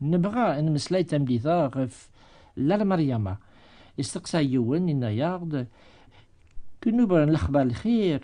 Nebɣa ad nemmeslay tameddit-a ɣef Lalla Mariama. Isteqsa yiwen, inna-yaɣ-d, Kunuba n lexbar lxir,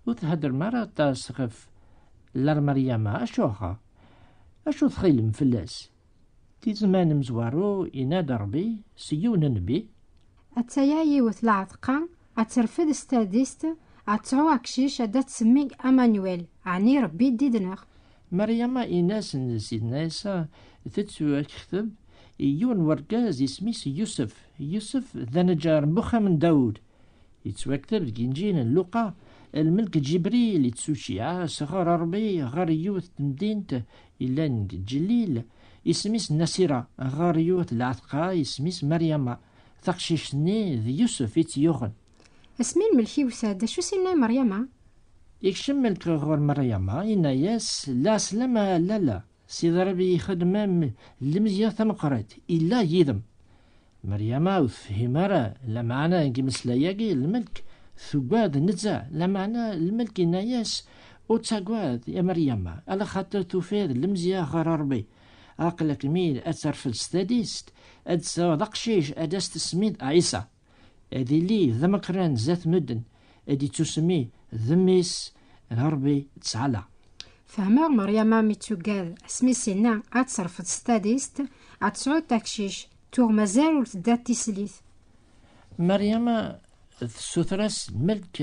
ur theddrem ara aṭas ɣef Lalla Mariama, acuɣer? Acu txilem fell-as? Di zzman amezwaru, yenna-d Rebbi s yiwen n nnbi. Ad taya yiwet lɛeḍqa, ad terfed s tadist, ad tesɛu aqcic, ad d-tsemmi Amanuel, ɛni Rebbi d yid-neɣ. Maryama in-as n Sidna Ɛisa tettuakekteb i yiwen n wergaz isem-is Yusef. Yusef d aneǧǧar n uxxam n Dawed. Yettwakteb deg Inǧil n Luqa, lmelk Ǧibril ittuceyyeɛ sɣur Ṛebbi ɣer yiwet n temdint yellan deg Ǧellil, isem-is Nasira, ɣer yiwet n lɛetqa isem-is Maryama. Taqcict-nni d Yusef i tt-yuɣen. Asmi lmelk iwta-d, acu s-inna i Meryama? Ikcem melk ɣur Meryama, inna-yas, La slam a lalla, Sidi Ṛebbi ixedem-am lemzeyya tameqqrit, illa yid-m. Meryama ur tefhim ara lameɛna n yimeslay-agi, lmelk tuggad nezzeh, lameɛna lmelk inna-yas, Ur ttaggad a Meryama, ala xaṭer tufiḍ lemzeyya ɣer Ṛebbi, aql-ak mi ad terfed s tadist, ad d-tesɛuḍ aqcic ad as-tesmiḍ Ɛisa. ad ili d amakran zat nudden ad ittusmi d mmi-s d Rebbi ttɛala. Fehmeɣ Meryama mi tuggad asmi s-inna ad terfed s tadist ad tesɛud takcic, tuɣ mazal ur tedda d tislit. Meryama tessuter-as melk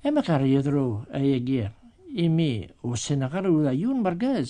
amek ara yedru ayagi imi ur ssineɣ ara ula yiwen mergaz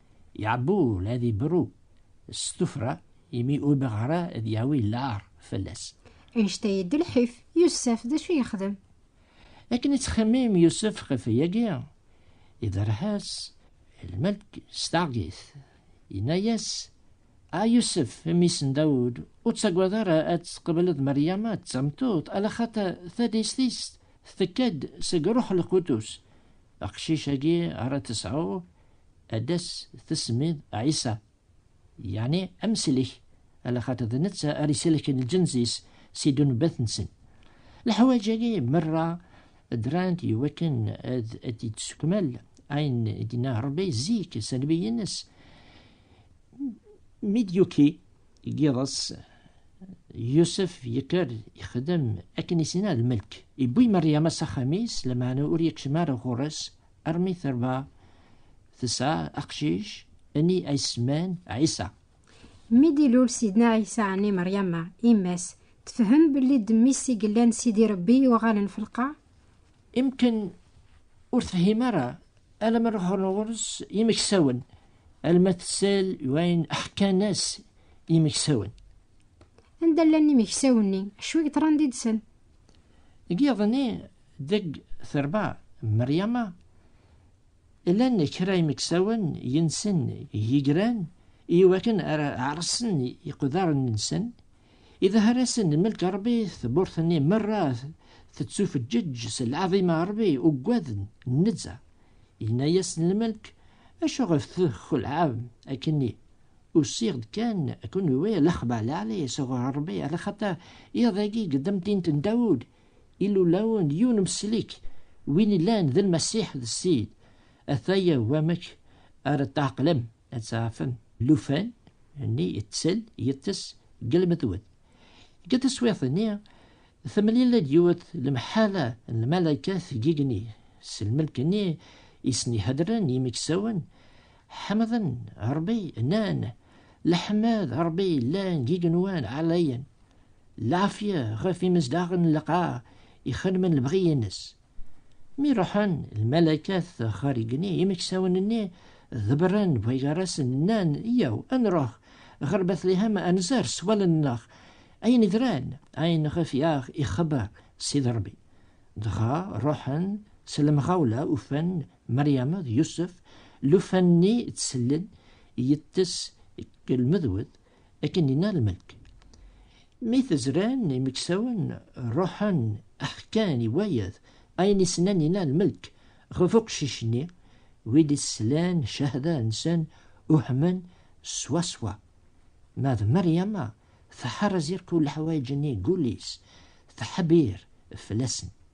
Yeɛbul ad ibru s tufra imi ur bɣa ara ad yawi lɛar fell-as. Anect-a yeddi lḥif, Yusef d acu yexdem? Akken yettxemmim Yusef ɣef wayagi, iberreḥ-as lmelk s taɣgit, yenna-yas, A Yusef, mmi-s n Dawed, ur ttagad ara ad tqebleḍ Meryama d tameṭṭut, ala xaṭer tadist-is tekka-d seg Ṛuḥ Lqudus. Aqcic-agi ara tesɛu ad as-tesmiḍ Ɛisa, yeɛni amsellek, ala xaṭi d netta ara isellken lǧenz-is si ddunbat-nsen. Leḥwaǧ-agi merra ddrant i wakken ad d-ittsekmal ayen i d-inna Rebbi zik s anbiy-nnes mi d-yuki deg yiḍes Yusef yekker ixdem akken i s-inna lmelk, iwwi Meryama s axxam-is, lameɛna ur yekcem ara ɣur-s Armi terba tesɛa aqcic ni ayesman Ɛisa. Mi d-ilul Sidna Ɛisa ni Meryama, yemma-s, tefhem belli d mmi-s i yellan Sidi Rebbi yuɣalen f lqaɛ? Imken ur tefhim ara alamma ruḥen ɣur-s yimeksawen, alma tessal i wayen ḥkan-as yimeksawen. Anda llan yimeksawen-nni? Acu i yeḍran yid-sen? Giḍ-nni deg terba Meryama, llan kra imeksawen yensen yigran i wakken ara ɛersen iqdaren-nsen, idehher-asen melk Rebbi, tmurt-nni merra tettufeǧǧeǧ s lɛaḍima Rebbi, uggaden nezzeh. Yenna-yasen lmelk, Acuɣef txelɛem akken-nni? Usiɣ-d kan ad ken-uriɣ lexbar lɛali sɣur Ṛebbi, ala xaṭer iḍ-agi deg temdint n Dawed, ilulawen, yiwen meslik, win illan d Lmasiḥ d Ssid. Ata-ya wamek ara tɛeqlem, ad tɛerfem. Llufan, nni ittel, yeṭṭes deg lmetwet. Deg teswiɛt-nni, temlil-d yiwet lemḥala n lmalaykat deg igenni, s lmelk-nni i sen-iheddren yimeksawen, Ḥemden Ṛebbi, nnan, Leḥmed Ṛebbi yellan d igenwan ɛlayen, lɛafya ɣef imezdaɣen n lqaɛ ixedmen lebɣi-ines. Mi ruḥen lmalakat ɣer igenni, imeksawen-nni ḍebren bɣigar-asen, nnan, Yaw, ad nruḥ ɣer Betlihem ad nzer s wallen-nneɣ ayen idran, ayen ɣef i aɣ-ixebber Sidi Ṛebbi. Dɣa ruḥen s lemɣawla ufan Mariama d Yusef, llufan-nni tt-sellen, yeṭṭes deg lmedwed, akken yenna lmelk. Mi t-zran imeksawen, ruḥen, ḥkan i wayed ayen i snen yenna lmelk ɣef uqcic-nni, wid i slan cahada-nsen uhmen swaswa. Ma d Mariama, tḥerrez irku leḥwayeǧ-nni deg wul-is, teḥbir fell-asen.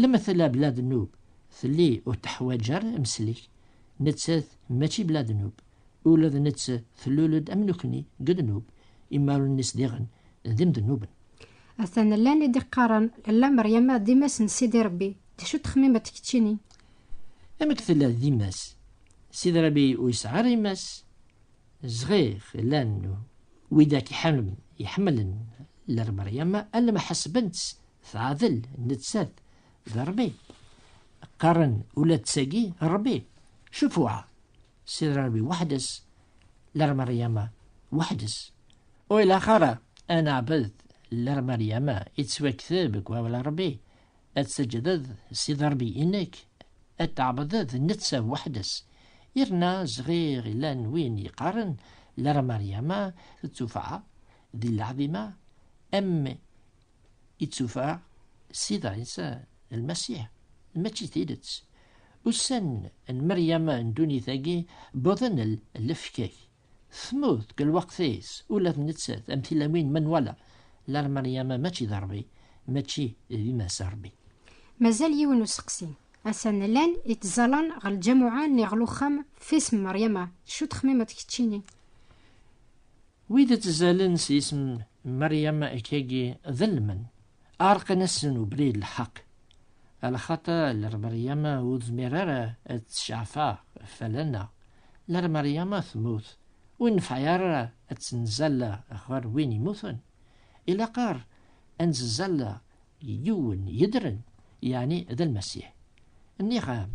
Lmetla bla dnub telli ur teḥwaǧ ara amsellek, nettat mačči bla dnub, ula d nett tlul-d am nekni deg dnub, imarunen-is diɣen d imednuben. Atan llan i d-iqqaren Lalla Meryama d imass n Sidi Rebbi, d acu texmimeḍ keččini? Amek tella d imass? Sidi Rebbi ur yesɛi ara imass? Zɣiɣ, llan widak iḥemmlen Lalla Meryama alamma ḥesben-tt Teɛdel nettat d Rebbi. Qqaren ula d tagi Rebbi. Cufuɛa. Sidra Rebbi weḥd-s. Ler Maryama weḥd-s. Ur ilaq ara ad neɛbed ler Maryama yettwakteb deg wawal Rebbi. Ad tseǧǧdeḍ Sidra Rebbi-inek, ad tɛebdeḍ netta weḥd-s. Yerna zɣir llan win yeqqaren ler Maryama d tufaɛa d leɛdima am i d-tufa Sida Ɛisa Lmasiḥ, mačči d tidet. Ussan n Meryem n ddunit-agi wwḍen lefkak. Tmut deg lweqt-is ula d nettat am tilawin ma nwala lar Meryem mačči d Rebbi, mačči d yemma-s Rebbi. Mazal yiwen useqsi. Atan llan ittẓalan ɣer lǧamuɛa nni ɣer uxxam f isem Meryem-a, d acu txemmimeḍ keččini? Wid ittazalen s yisem Meryem akkagi ḍelmen, ɛerqen-asen ubrid lḥeq. Alxaṭer ler Meryem ur tezmir ara ad tecɛef-aɣ fell-aneɣ, ler Meryem temmut, ur nefɛi ara ad tt-nzal ɣer win immuten. Ilaq-aɣ ad nzal yiwen yedren, yeɛni d Lmasiḥ. Nniɣ-am,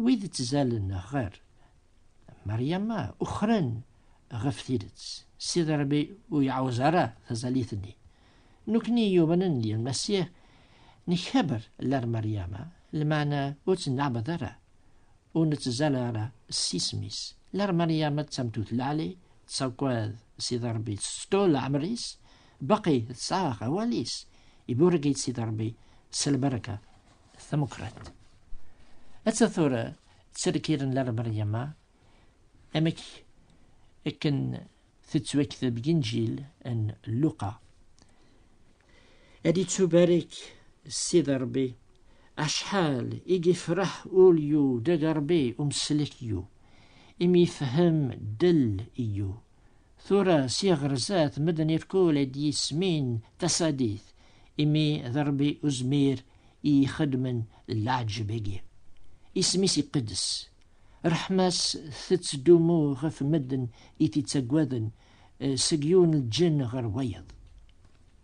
wid ittazalen ɣer Maryama ukren ɣef tidet. Sidi Ṛebbi ur yeɛwez ara tazalit-nni. Nekkni yumanen di Lmasiḥ nkaber lar Maryama, lmeɛna ur tt-neɛbed ara, ur nettẓalla ara s isem-is. Lar Maryama d tameṭṭut lɛali, tettagad Sidi Ṛebbi, tettettu leɛmer-is, baqi tesɛa awal-is, iburek-itt Sidi Ṛebbi s lberka tameqqrant. Atta tura tterkiren lar Meryama amek akken tettwakteb deg injil n Luqa ad ittubarek Ssid Rebbi acḥal i yefreḥ ulyu deg Rebbi umslek yu imi yefhem del yu tura s iɣerzat medden irkul ad yismin tasadit imi d Rebbi uzmir i ixedmen leɛǧeb-agi. Isem-is iqeddes. Ṛṛeḥma-s tettdumu ɣef medden i t-ittaggaden, seg yiwen lǧenn ɣer wayeḍ.